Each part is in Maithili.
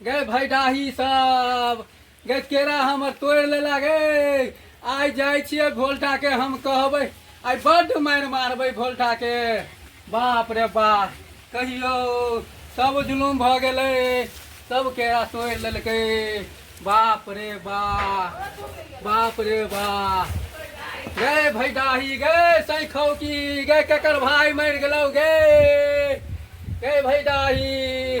गए भाई डाही सब गए केरा हमर तोड़ ले लागे आइ जाए छिए भोल्टा के हम कहबे आइ बड मार मारबे भोल्टा के बाप रे बाप कहियो सब जुलूम भ गेले सब केरा तोड़ लेलके बाप रे बाप बाप रे बाप गए भाई डाही गए सही खौकी गए ककर भाई मर गलो गए गए भाई डाही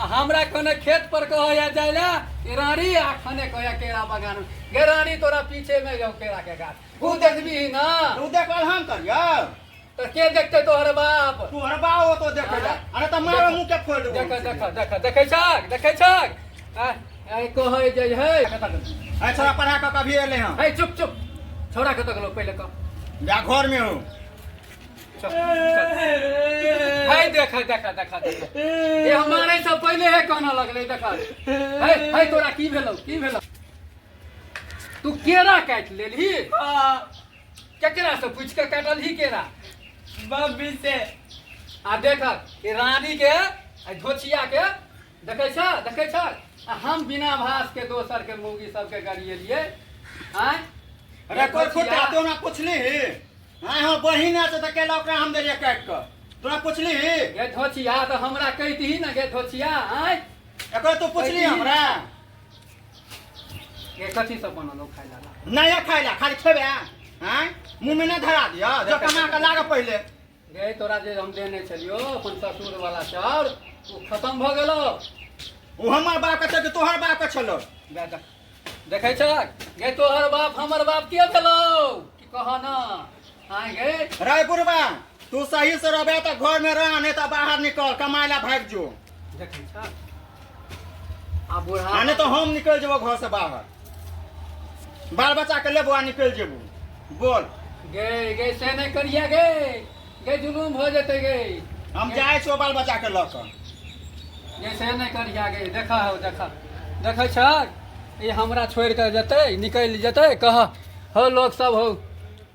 आ हमरा खने खेत पर कहैया जाय ला कि रानी आ खने कहैया केरा बगान में। गे रानी तोरा पीछे में जाऊ केरा के गाछ ऊ देखबी ना उ देखल हम करियो तो के देखते तोहर बाप तू हरबा हो तो देखे जा अरे त मारो मुंह के फोड़ देबो देख देख देख देखे छक देखे छक आ, आ, कहै जे है अरे छोरा पढ़ा के कभी एले हम है चुप चुप छोरा के तक लोग पहले कह जा घर में हो हाय देखा देखा देखा देखा ए हमारे से पहले है कहना लगले देखा हाय हाय तोरा की भेलो की भेलो तू केरा काट लेलही केकरा से पूछ के काटलही केरा बाबी से आ देखा ए रानी के आ धोचिया के देखै छ देखै छ आ हम बिना भास के दोसर के मौगी सब के गरिएलिए आय रेकॉर्ड फुट देखै छियै, तो ना पूछली ही हां हां बहिन है तो तकेला ओकरा हम देलिए काट के तोरा पूछली ही गे धोचिया तो हमरा कहि दही न गे धोचिया आय एकरा तू पूछली बहिन। हमरा गे कथी सब बनल हो खाइ ला नहीं खाइला खाली खेबे हां मुंह में ना धरा दियो जो कमा के लागे पहले गए तोरा जे हम देने छलियो अपन ससुर वाला चाउर ओ खत्म भ गेलो ओ हमर बाप के छल तोहर बाप के छलो देखे छ गए तोहर बाप हमर बाप के भेलो कि कह ना आए गए रायपुर बा तू सही से रहबे त घर में रह नहीं तो बाहर निकल कमाए ला भाग जो देखे छ आ बूढ़ा आ नहि तऽ हम निकलि जेबो घर से बाहर बाल बच्चा के लेबो आ निकलि जेबो बोल गे गे से नहि करिया गे गे जुलूम भऽ जेतै गे हम जाइ छियौ बाल बच्चा के लऽ कऽ गे से नहि करिया गे देखा हौ देखा देखै छ ई हमरा छोड़ि कऽ जेतै निकलि जेतै कह हौ लोक सब हौ